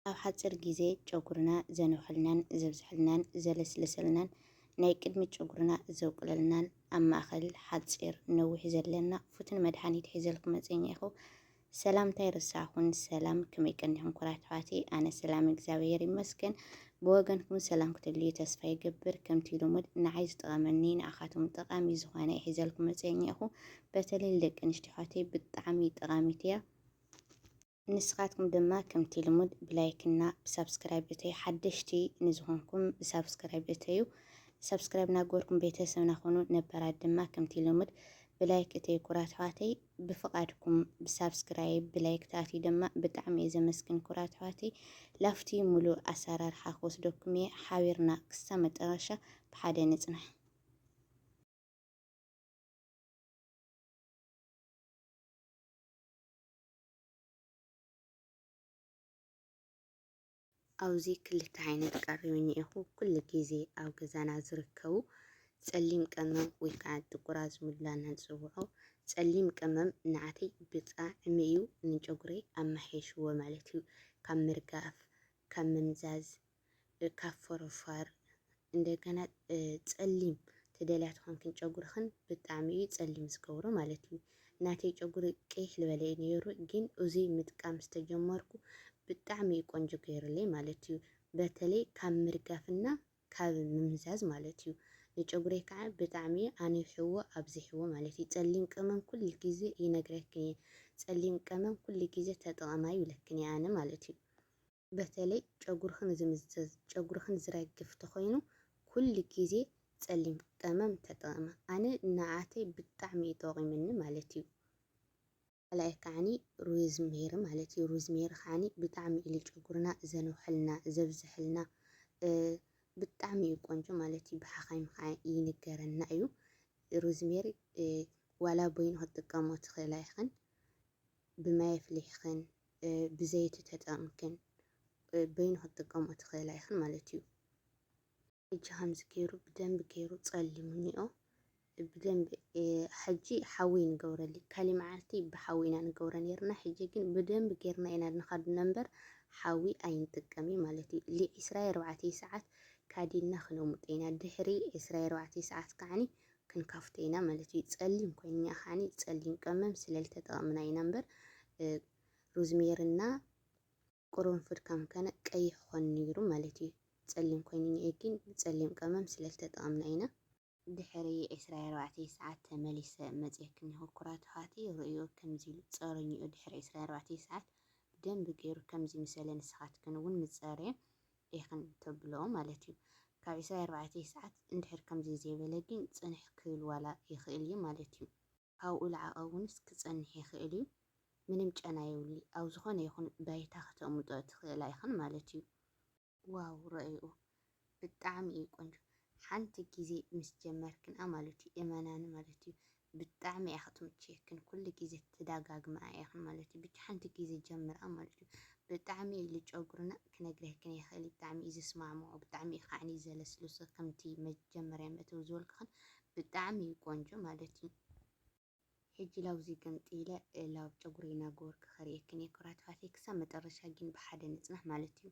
ኣብ ሓጺር ግዜ ጨጉርና ዘንውሐልናን ዘብዝሐልናን ዘለስልሰልናን ናይ ቅድሚ ጨጉርና ዘውቅለልናን ኣብ ማእኸል ሓጺር ነዊሕ ዘለና ፉትን መድሓኒት ሒዘልኩም መጽኛ ኢኹ ሰላምታይ ርሳኹን ሰላም ከመይ ቀኒኹም ኩራት ኣሕዋተይ ኣነ ሰላም እግዚኣብሔር ይመስገን ብወገንኩም ሰላም ክትልዩ ተስፋ ይገብር ከምቲ ልሙድ ንዓይ ዝጠቐመኒ ንኣኻቶም ጠቓሚ ዝኾነ ይሒዘልኩም መፅኛ ኢኹ በተለይ ደቂ ኣንስትዮ ኣሕዋተይ ብጣዕሚ ጠቓሚት እያ ንስኻትኩም ድማ ከምቲ ልሙድ ብላይክ እና ብሳብስክራይብ እተዩ ሓደሽቲ ንዝኾንኩም ብሳብስክራይብ እተዩ ሳብስክራይብ ናገበርኩም ቤተሰብና ኾኑ ነባራት ድማ ከምቲ ልሙድ ብላይክ እተዩ ኩራት ኣሕዋተይ ብፍቓድኩም ብሳብስክራይብ ብላይክ ተኣትዩ ድማ ብጣዕሚ እየ ዘመስግን ኩራት ኣሕዋተይ ላፍቲ ሙሉእ ኣሰራርሓ ክወስደኩም እየ ሓቢርና ክሳብ መጠረሻ ብሓደ ንፅናሕ ኣብዚ ክልተ ዓይነት ቀሪብኒ ኢኹ ኩሉ ግዜ ኣብ ገዛና ዝርከቡ ጸሊም ቀመም ወይ ከዓ ጥቁር ኣዝሙድ ኢልና ንጽውዖ ጸሊም ቀመም ንዓተይ ብጣዕሚ እዩ ንጨጉረይ ኣመሓይሽዎ ማለት እዩ ካብ ምርጋፍ ካብ ምምዛዝ ካብ ፎሮፋር እንደገና ጸሊም ትደልያ ተኮንክን ጨጉርክን ብጣዕሚ እዩ ጸሊም ዝገብሮ ማለት እዩ ናተይ ጨጉሪ ቅይሕ ልበለ እዩ ነይሩ ግን እዙይ ምጥቃም ዝተጀመርኩ ብጣዕሚ እዩ ቆንጆ ገይሩለይ ማለት እዩ በተለይ ካብ ምርጋፍና ካብ ምምዛዝ ማለት እዩ ንጨጉረይ ከዓ ብጣዕሚ እዩ ኣንዊሕዎ ኣብዚሕዎ ማለት እዩ ጸሊም ቀመም ኩሉ ግዜ ይነግረክን እየ ጸሊም ቀመም ኩሉ ግዜ ተጠቐማ ይብለክን እየ ኣነ ማለት እዩ በተለይ ጨጉርኺ ንዝምዘዝ ጨጉርኺ ንዝረግፍ ተኾይኑ ኩሉ ግዜ ፀሊም ቀመም ተጠቐሚ ኣነ ንዓተይ ብጣዕሚ እዩ ጠቂሙኒ ማለት እዩ ካልኣይ ከዓኒ ሩዝ ሜሪ ማለት እዩ ሩዝ ሜሪ ከዓኒ ብጣዕሚ እዩ ጨጉርና ዘንውሐልና ዘብዝሐልና ብጣዕሚ እዩ ቆንጆ ማለት እዩ ብሓኻይም ከዓ ይንገረና እዩ ሩዝ ሜሪ ዋላ በይኑ ክትጥቀሞ ትኽእላ ኢኽን ብማይ ኣፍሊሕኽን ብዘይቲ ተጠቕምክን በይኑ ክትጥቀምኦ ትኽእላ ኢኽን ማለት እዩ። ሕጂ ከምዚ ገይሩ ብደንቢ ገይሩ ጸሊሙ እኒኦ ብደንቢ ሕጂ ሓዊ ንገብረሊ ካሊ መዓልቲ ብሓዊ ኢና ንገብረ ነርና ሕጂ ግን ብደንቢ ገርና ኢና ንካድ ነንበር ሓዊ ኣይንጥቀሚ ማለት እዩ ሊ ዕስራየ ኣርባዕተይ ሰዓት ካዲና ክነሙጥ ኢና ድሕሪ ዕስራየ ኣርባዕተይ ሰዓት ከዓኒ ክንካፍቶ ኢና ማለት እዩ። ጸሊም ኮይንኛ ከዓኒ ጸሊም ቀመም ስለል ተጠቐምና ኢና እምበር ሩዝሜርና ቅርንፉድ ከም ከነ ቀይሕ ኾን ነይሩ ማለት እዩ። ጸሊም ኮይንኛ እዩ ግን ጸሊም ቀመም ስለል ተጠቐምና ኢና። ድሕሪ ዕስራ ኣርባዕተ ሰዓት ተመሊሰ መጽየክን እኒሆ ኩራት ኣሕዋቲ ርእዮ ከምዚ ኢሉ ጸሩኝኡ ድሕሪ ዕስራ ኣርባዕተ ሰዓት ብደንቢ ገይሩ ከምዚ ምሰለ ንስኻትክን እውን ምጸርየ ዲኽን ተብሎ ማለት እዩ። ካብ ዕስራ ኣርባዕተ ሰዓት እንድሕር ከምዚ ዘይበለ ግን ጽንሕ ክብል ዋላ ይኽእል እዩ ማለት እዩ። ኣብኡ ልዓቐ እውንስ ክጸንሕ ይኽእል እዩ። ምንም ጨና የብሉይ። ኣብ ዝኾነ ይኹን ባይታ ክተቕምጦ ትኽእላ ኢኽን ማለት እዩ። ዋው ረኦይኡ ብጣዕሚ እዩ ቆንጆ ሓንቲ ግዜ ምስ ጀመርክንኣ ማለት እዩ እመናኒ ማለት እዩ ብጣዕሚ እያ ክትምችየክን ኩሉ ግዜ ትዳጋግምኣ ኢኽን ማለት እዩ ብቻ ሓንቲ ግዜ ጀምርኣ ማለት እዩ ብጣዕሚ እዩ ልጨጉርና ክነግረክን ኣይኽእል ብጣዕሚ እዩ ዝስማዕምዖ ብጣዕሚ እዩ ካዕኒ ዘለስልሶ ከምቲ መጀመርያ መእተዊ ዝበልኩኽን ብጣዕሚ እዩ ቆንጆ ማለት እዩ ሕጂ ላብዚ ገምጢለ ላብ ጨጉረይ እናገበርኩ ከርእየክን እየ ኩራት ኣሕዋተይ ክሳብ መጠረሻ ግን ብሓደ ንጽናሕ ማለት እዩ።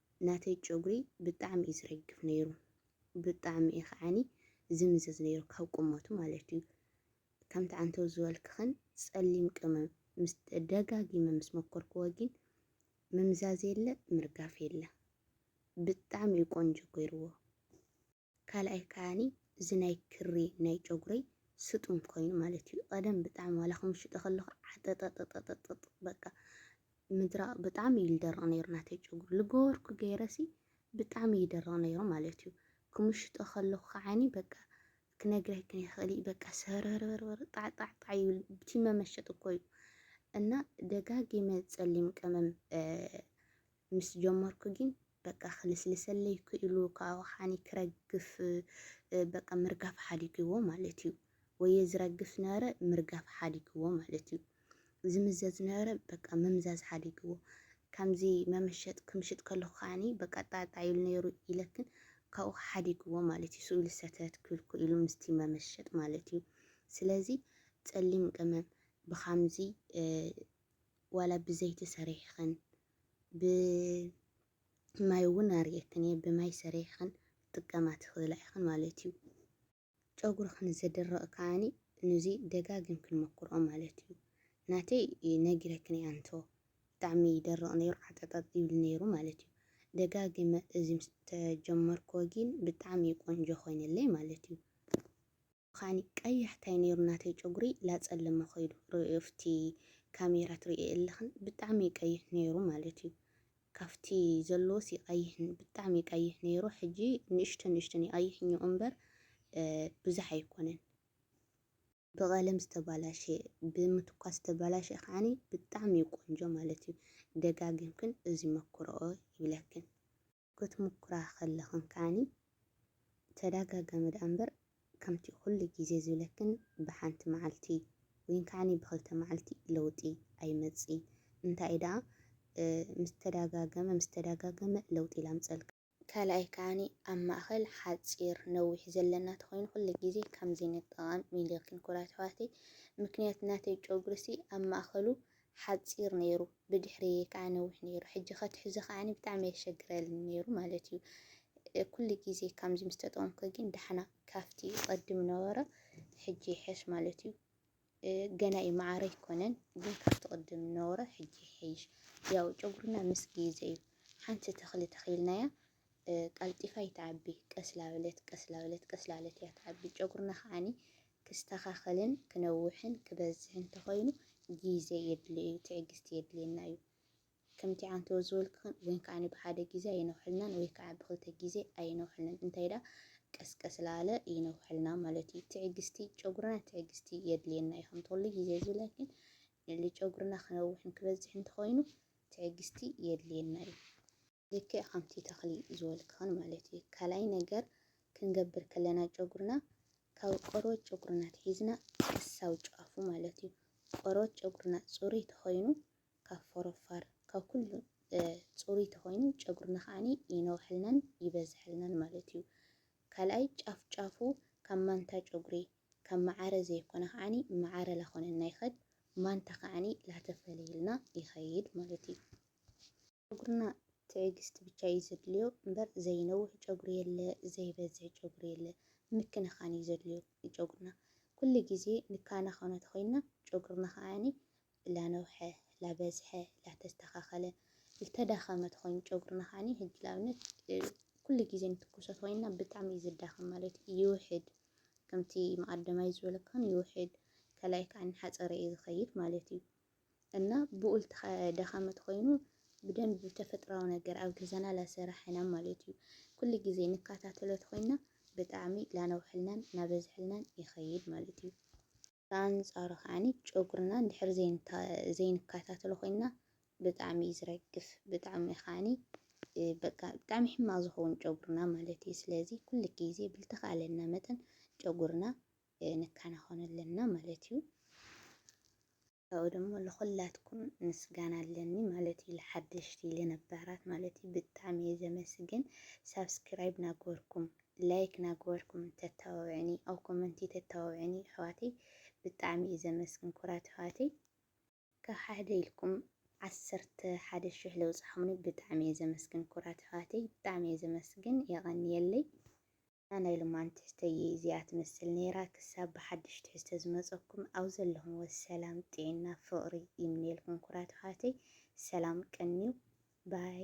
ናተይ ጨጉሪ ብጣዕሚ እዩ ዝረግፍ ነይሩ ብጣዕሚ እዩ ከዓኒ ዝምዘዝ ነይሩ ካብ ቁመቱ ማለት እዩ ከምቲ ዓንተው ዝበልክኽን ጸሊም ቅመም ምስ ደጋጊመ ምስ መኮርክዎ ግን ምምዛዝ የለ ምርጋፍ የለ ብጣዕሚ እዩ ቆንጆ ገይርዎ። ካልኣይ ከኣኒ እዚ ናይ ክሪ ናይ ጨጉረይ ስጡም ኮይኑ ማለት እዩ ቐደም ብጣዕሚ ዋላ ክምሽጦ ከለኹ ዓጠጠጠጠጠጥ በቃ ምድራቕ ብጣዕሚ እዩ ዝደርቕ ነይሩ ናተይ ጨጉሪ ልገበርኩ ገይረሲ ብጣዕሚ ይደርቕ ነይሩ ማለት እዩ ክምሽጦ ከለኹ ከዓኒ በቃ ክነግረክን ይኽእል በቃ ስህርህርህርህር ጣዕጣዕጣዕ ይብል ብቲ መመሸጥ እኮ እዩ እና ደጋጊመ ጸሊም ቀመም ምስ ጀመርኩ ጊን በቃ ክልስልሰለይ ክኢሉ ካብኡ ከዓኒ ክረግፍ በቃ ምርጋፍ ሓዲግዎ ማለት እዩ ወየ ዝረግፍ ነበረ ምርጋፍ ሓዲግዎ ማለት እዩ ዝምዘዝ ነበረ በቃ ምምዛዝ ሓዲግዎ ከምዚ መመሸጥ ክምሽጥ ከለኩ ከዓኒ በቃ ጣጣ ኢሉ ነይሩ ኢለክን ካብኡ ሓዲግዎ ማለት እዩ ስእሉ ሰተት ክብል ክኢሉ ምስቲ መመሸጥ ማለት እዩ ስለዚ ጸሊም ቅመም ብካምዚ ዋላ ብዘይቲ ሰሪሕኽን ብማይ ውን ኣርእየክን እየ ብማይ ሰሪሕኽን ክትጥቀማ ትኽእላ ኢኽን ማለት እዩ። ጨጉርኽ ንዘድርቕ ከኣ ንዚ ደጋጊምክን ሞክርኦ ማለት እዩ። ናተይ ነጊረክን እየ ኣንቶ ብጣዕሚ ይደርቕ ነይሩ ዓጠጠጥ ይብል ነይሩ ማለት እዩ። ደጋጊመ እዚ ምስ ተጀመርክዎ ጊን ብጣዕሚ እዩ ቆንጆ ኮይንለይ ማለት እዩ። ኻኒ ቀያሕ ታይ ነይሩ ናተይ ጨጉሪ ላፀለመ ኸይዱ ሪኦዮ ኣፍቲ ካሜራ ትሪእዮ የለኽን ብጣዕሚ እዩ ቀይሕ ነይሩ ማለት እዩ ካፍቲ ዘለዎስ ይቀይሕን ብጣዕሚ ይቀይሕ ነይሩ ሕጂ ንእሽተን ንእሽተን ይቀይሕኞ እምበር ብዙሕ ኣይኮነን ብቀለም ዝተባላሸ ብምትኳስ ዝተባላሸ ኻኒ ብጣዕሚ እዩ ቆንጆ ማለት እዩ ደጋጊምክን እዚ መክሮኦ ይብለክን። ክትሙኩራ ከለኽን ከኣኒ ተዳጋጋሚ ደኣ እምበር ከምቲ ኩሉ ግዜ ዝብለክን ብሓንቲ መዓልቲ ወይን ከኣኒ ብክልተ መዓልቲ ለውጢ ኣይመጽእን እንታይ ደኣ ምስ ተዳጋገመ ምስ ተዳጋገመ ለውጢ ላምጸልካ። ካልኣይ ከኣኒ ኣብ ማእከል ሓጺር ነዊሕ ዘለና ተኮይኑ ኩሉ ግዜ ከምዚ ንጠቐም ኢለክን ኩራት ኣሕዋተይ ምክንያት ናተይ ጨጉሪሲ ኣብ ማእከሉ ሓጺር ነይሩ ብድሕረይ ከኣ ነዊሕ ነይሩ ሕጂ ከትሕዞ ከኣ ብጣዕሚ የሸግረልኒ ነይሩ ማለት እዩ ኩሉ ግዜ ከምዚ ምስ ተጠቀምኩ ግን ዳሕና ካብቲ ቀድም ነበረ ሕጂ ይሐሽ ማለት እዩ ገና እዩ መዓረ ኣይኮነን ግን ካብቲ ቅድም ነበረ ሕጂ ይሐይሽ ያው ጨጉርና ምስ ግዜ እዩ ሓንቲ ተኽሊ ተኺልናያ ቀልጢፋ ኣይትዓቢ ቀስላበለት ቀስላበለት ቀስላለት እያ ትዓቢ ጨጉርና ከዓኒ ክስተኻኸልን ክነውሕን ክበዝሕን ተኾይኑ ጊዘ የድልዮ እዩ ትዕግስቲ የድልየና እዩ ከምቲ ዓንተወ ዝበልክኽን ወይን ከዓኒ ብሓደ ጊዜ ኣይነውሕልናን ወይ ከዓ ብክልተ ጊዜ ኣይነውሕልን እንታይ ዳ ቀስቀስ ላለ ይነውሕልና ማለት እዩ ትዕግስቲ ጨጉርና ትዕግስቲ የድልየና እዩ ከምቲ ኩሉ ጊዜ ዝብላ ግን ንጨጉርና ክነውሕን ክበዝሕን ተኾይኑ ትዕግስቲ የድልየና እዩ ልክዕ ከምቲ ተኽሊ ዝበልክኸን ማለት እዩ። ካልኣይ ነገር ክንገብር ከለና ጨጉርና ካብ ቆርበት ጨጉርና ኣትሒዝና ክሳብ ጫፉ ማለት እዩ። ቆርበት ጨጉርና ፅሩይ ተኾይኑ ካብ ፎሮፋር ካብ ኩሉ ፅሩይ ተኾይኑ ጨጉርና ከዓኒ ይነውሐልናን ይበዝሐልናን ማለት እዩ። ካልኣይ ጫፍ ጫፉ ካብ ማንታ ጨጉሪ ካብ መዓረ ዘይኮነ ከዓኒ መዓረ ላኾነና ይኸድ ማንታ ከዓኒ ላተፈለየልና ይኸይድ ማለት እዩ። ጨጉርና ትዕግስቲ ብቻ እዩ ዘድልዮ እምበር ዘይነውሕ ጨጉሪ የለ ዘይበዝሕ ጨጉሪ የለ ምክንኻን እዩ ዘድልዮ ንጨጉርና ኩሉ ግዜ ንካናኸኖ ተኾይንና ጨጉርና ከዓ ላነውሐ ላበዝሐ ላተስተኻኸለ ልተዳኸመ ተኾይኑ ጨጉርና ከዓ ሕጂ ንኣብነት ኩሉ ግዜ ንትኩሶ ተኾይንና ብጣዕሚ እዩ ዝዳኸም ማለት ይውሕድ ከምቲ መቐደማይ ዝበለካን ይውሕድ ካልኣይ ከዓ ሓፀረ እዩ ዝኸይድ ማለት እዩ እና ብኡል ደኻመት ኮይኑ ብደንብ ብተፈጥራዊ ነገር ኣብ ገዛና ላሰራሕና ማለት እዩ ኩሉ ግዜ ንካታተሎት ኮይና ብጣዕሚ ላነውሐልናን ናበዝሐልናን ይኸይድ ማለት እዩ። ብኣንጻሩ ከዓኒ ጨጉርና እንድሕር ዘይንካታተሎ ኮይና ብጣዕሚ እዩ ዝረግፍ ብጣዕሚ ከዓኒ በቃ ብጣዕሚ ሕማቅ ዝኸውን ጨጉርና ማለት እዩ። ስለዚ ኩሉ ግዜ ብልተኻለና መጠን ጨጉርና ንከናኸኖ ኣለና ማለት እዩ። ካብኡ ደሞ ልኹላትኩም ምስጋና ኣለኒ ማለት እዩ ልሓደሽቲ ልነባራት ማለት እዩ ብጣዕሚ እየ ዘመስግን ሳብስክራይብ ናግበርኩም ላይክ ናግበርኩም ተታባብዕኒ ኣብ ኮመንቲ ተታባብዕኒ ኣሕዋተይ ብጣዕሚ እየ ዘመስግን ኩራት ኣሕዋተይ ካብ ሓደ ኢልኩም ዓሰርተ ሓደ ሽሕ ለውፅሓሙኒ ብጣዕሚ እየ ዘመስግን ኩራት ኣሕዋተይ ብጣዕሚ እየ ዘመስግን የቐንየለይ እዛ ናይ ሎማን ትሕዝቶይ ኢዚኣ ትመስል ነይራ ክሳብ ብሓዱሽ ትሕዝቶ ዝመጸኩም ኣብ ዘለኹምዎ ሰላም ጥዒና ፍቅሪ ይምነየልኩም ኩራት ኣሕዋተይ ሰላም ቀንዩ ባይ።